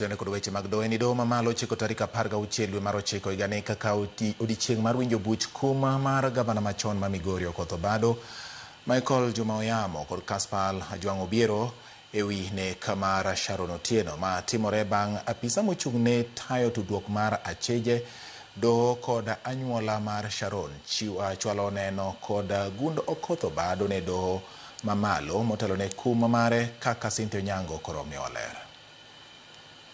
Kendo kod weche mag doho ni doho mamalo chiko tarik apar gauchiel dwe mar ochiko higani kaka oti- odiechieng' mar winjo buch kum mar gavana machon ma Migori Okoth Obado, Michael Juma Oyamo kod Caspal Ajwang' Obiero e wi nek mar Sharon Otieno. Ma timore bang' apisa mochung' ne tayo tudruok mar acheje, doho kod anyuola mar Sharon chiw ah, chwalo neno kod gund Okoth Obado ne doho mamalo motelo ne kum mare kaka Cynthia Onyango koro miyowa ler.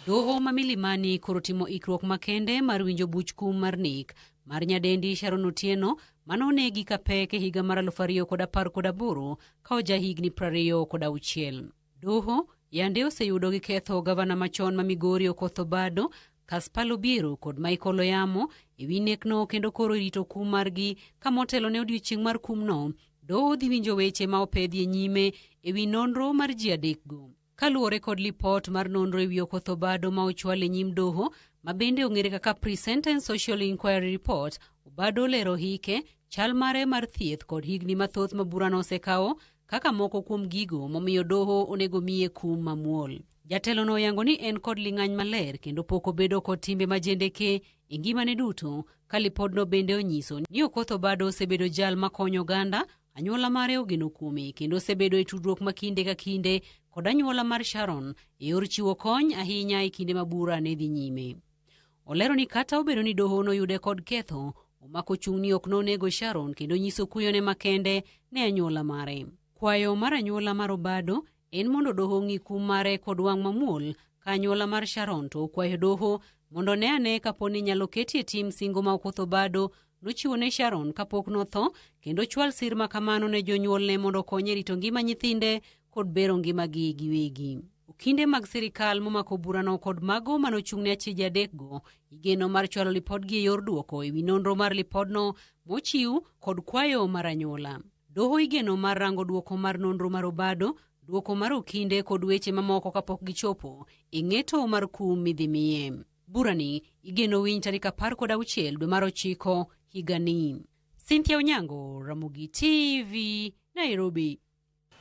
Doho ma Milimani koro timo ikruok makende mar winjo buch kum mar nek mar nyadendi Sharon Otieno mane onegi ka pek e higa mar aluf ariyo kod apar kod aboro ka oja higni prariyo kod auchiel. Doho yande oseyudo gi ketho gavana machon ma Migori Okoth Obado, Kaspar Obiero kod Michael Oyamo e wi nekno kendo koro irito kum margi ka motelo ne odiechieng' mar kumno, doho dhi winjo weche ma opedhie nyime e wi nonro mar ji adekgo. Kaluwore kod lipot mar nonro ewi Okoth Obado ma ochwal e nyim doho ma bende ong'ere kaka Pre-Sentence Social Inquiry Report, Obado olero hike, chal mare mar thieth kod higni mathoth ma burano osekawo kaka moko kuom gigo momiyo doho onego miye kum mamuol. Jatelono oyango ni en kod ling'any maler kendo pok obedo kod timbe majendeke e ngimane duto ka lipodno bende onyiso ni Okoth Obado osebedo jal makonyo oganda Anyuola mare ogeno kuome kendo osebedo e tudruok ma kinde ka kinde kod anyuola mar Sharon e yor chiwo kony ahinya e kinde ma bura ne dhi nyime. Olero ni kata obedo ni doho noyude kod ketho, omako chung' ni ok nonego Sharon kendo nyiso kuyone makende ne anyuola mare. Kwayo mar anyuola mar Obado en mondo doho ong'i kum mare kod wang' mamuol ka anyuola mar Sharon to okwayo doho mondo ne ane kapo ni nyalo ketie tim singo ma ok otho bado nochiwo ne Sharon kapok notho kendo chwal sir ma kamano ne jonyuolne mondo okonye rito ngima nyithinde kod bero ngimagi giwegi. Okinde mag sirikal momako burano kod mago mane ochung'ne achije adekgo igeno mar chwalo lipodgi e yor duoko ewi nonro mar lipodno mochiw kod kwayo mar anyuola. Doho igeno mar rango dwoko mar nonro mar obado, dwoko mar okinde kod weche mamoko kapok gichopo e ng'eto mar kum midhi miye. Burani igeno winy tarik apar kod auchiel dwe mar ochiko higani. Cynthia Onyango, Ramogi TV, Nairobi.